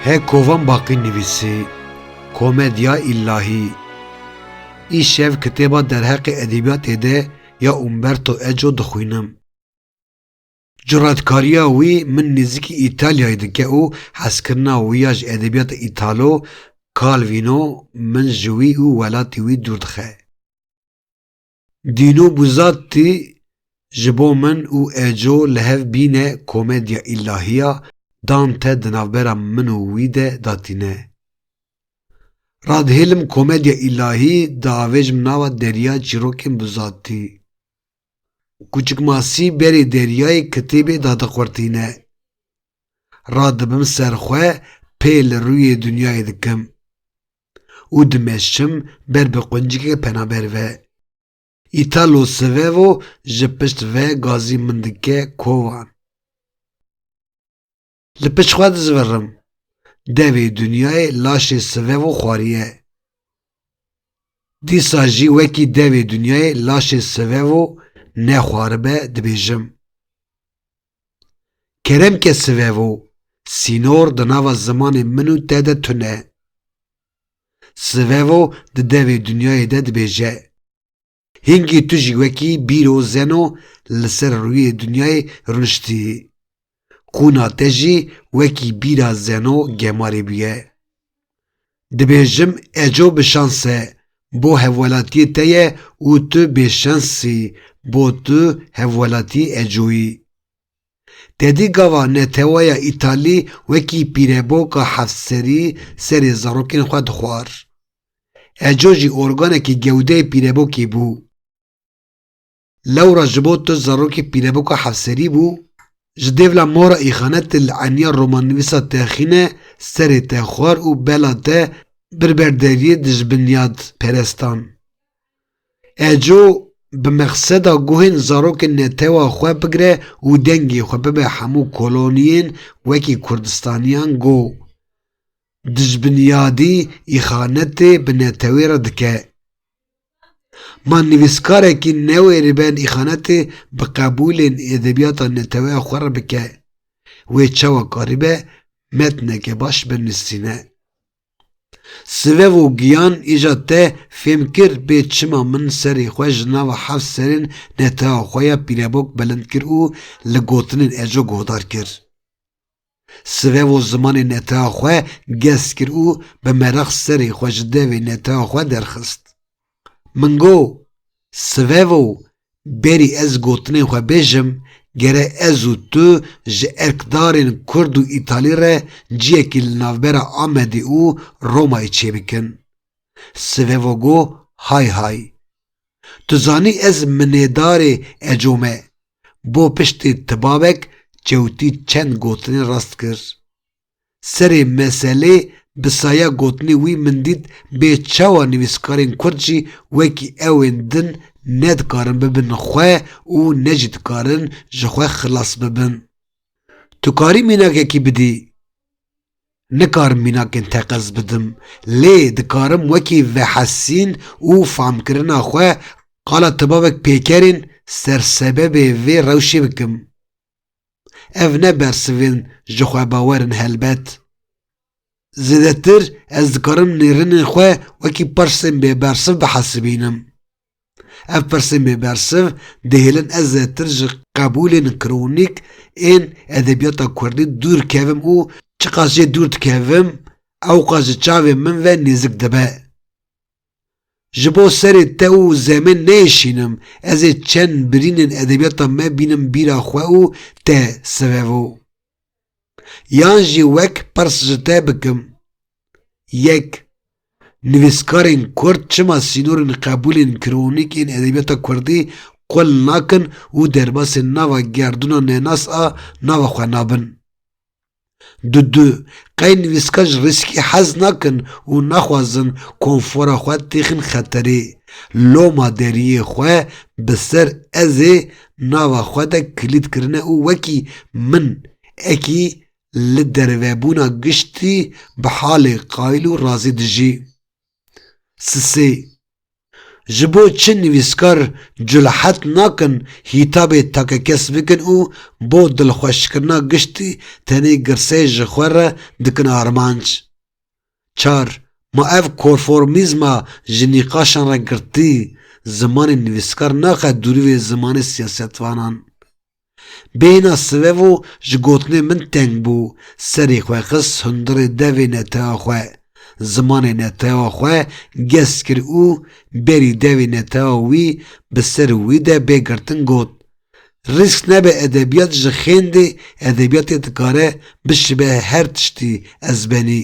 Hê kovan baqî nivîsî, Komedya îllahî. Îşev kitêba derheqê edebîyatê de ya Umberto Eco dixwînim. Curetkariya wî min nêzîkî Îtalyayê dike û hezkirina wî ya ji edebîyata Îtalo, Kalvîno min ji wî û welatê wî dûr dixe. Dîno Buzatti ji bo min û Eco li hev bîne komedya îlahiya Dante di navbera min û wî de datîne. Radihêlim komedya îlahî diavêjim nava derya çîrokên Buzatti. Kûçik Masî berê deryayê kitêbê dadiqurtîne. Radibim ser xwe pê li rûyê dinyayê dikim. û dimeşim ber bi quncikê penaber ve. Italo Svevo ji pişt ve gazî min dike kovan. Li pişt xwe dizvirim. Devê Dunyayê laşê Svevo xwariye. Dîsa jî wekî devê Dunyayê laşê Svevo nexwaribe dibêjim. Kerem ke sivevo, sînor di nava zimanê min û te de tune. Sivevo di devê dinyayê de dibêje, Hingî tu jî wekî bîro zeno li ser rûyê dinyayê rûniştî. Qûna te jî wekî bîra zeno gemarê bûye. Dibêjim eco bi şans e bo hevwelatiyê te ye û tu bêşensî bo tu hevwelatiyê eco yî. Tedî gava neteweya Îtalî wekî pîreboka hevserî serê zarokên xwe dixwar. Eco jî organekî gewdeyê pîrebokê bû. Lewra ji bo tu zarokê pîneboka hevserî bû, ji dêvla mora îxane tu li eniya romannivîsa te xîne serê te xwar û bela te bir ber deriyê dijbinyad perestan. Eco bi mexseda guhên zarokên netewa xwe bigire û dengê xwe bibe hemû koloniyên wekî kurdistaniyan go dijbinyadî îxane tê bi netewê re dike. Ma nivîskarekî newe li ber îxanetê bi qebûlên edebiyata neteweya xwe re bike, wê çawa karibe metneke baş binivîsîne. Sivev û giyan îja te fêm kir bê çima min serê xwe ji nava heft serên neteweya xwe ya pîrebok bilind kir û li gotinên eco guhdar kir. Sirev û zimanê neteya xwe gest kir û bi merex serê xwe ji devê neteya xwe derxist. Min go, Sivevo, berî ez gotinên xwe bêjim, gere ez û tu ji erkdarên kurd û îtalî re ciyekî li navbera Amedê û Romayê çêbikin. Sivevo go, Hay hay. Tu zanî ez minêdarê eco me bo piştê ti babek çewtî çend gotinên rast kir. Serê meselê bi saya gotinê wî min dît bê çawa nivîskarên kurd jî wekî ew ên din ne dikarin bibin xwe û ne jî dikarin ji xwe xilas bibin. Tu karî mînakekî bidî? Nikarim mînakên teqez bidim, lê dikarim wekî vehesîn û famkirina xwe qala tibavek pêkerên sersebebê vê rewşê bikim. Ev ne bersivên jixwebawer in helbet. Zêdetir ez dikarim nêrinên xwe wekî persên bêbersiv bihesibînim. Ev pirsên bêbersiv dihêlin ez zêtir ji qebûlên kronîk ên edebiyata kurdî dûr kevim û çiqas jê dûr dikevim ewqas ji çavê min ve nêzik dibe. Ji bo serê te û zemên neyêşînim ez ê çend birînên edebiyata me bînim bîra xwe û te sivevo. Yan jî wek pirs ji te bikim, Yek, nivîskarên kurd çima sînorên qebûlên kronîk ên edebiyata kurdî qul nakin û derbasê nava gerdûna nenas a nava xwe nabin? Du du, qey nivîskar ji rîskî hez nakin û naxwazin konfora xwe têxin xeterê? Loma deriyê xwe bi ser ezê nava xwe de kilîd kirine û wekî min ekî li dervebûna giştî bi halê qayîl û razî dijî. Sisê. Ji bo çi nivîskar curehet nakin hîtabê takekes bikin û bo dilxweşkirina giştî tenê girseyê ji xwe re dikin armanc? Çar, Ma ev korformîzma ji nîqaşan re girtî, zimanê nivîskar naxe dûrî wê zimanê siyasetvanan. Bêhna sivevo ji gotinê min teng bû, serê xwe xist hundirê devê netewa xwe, zimanê netewa xwe gest kir û berî devê netewa wî bi ser wî de bê girtin got, Risk nebe edebiyat ji xêndê edebiyatê dikare bişibe her tiştî ezbenî.